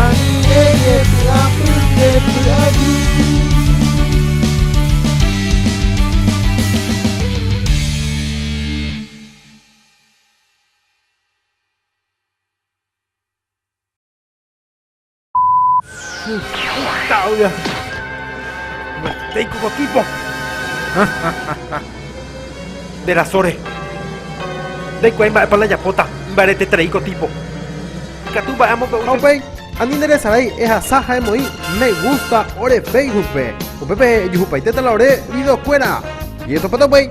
Añe'ẽ py'apy nde py'aguy. Nde rasóre. Ndaikuaái mba'épa la japóta. Imbaretetereíko tipo. Ikatu mba'e amokõ'u che. Ha upéi, ani neresarái ehasa ha emoĩ me gusta ore Facebook-pe. Upépe ejehupaitéta la ore video-kuéra. Jetopáta upéi.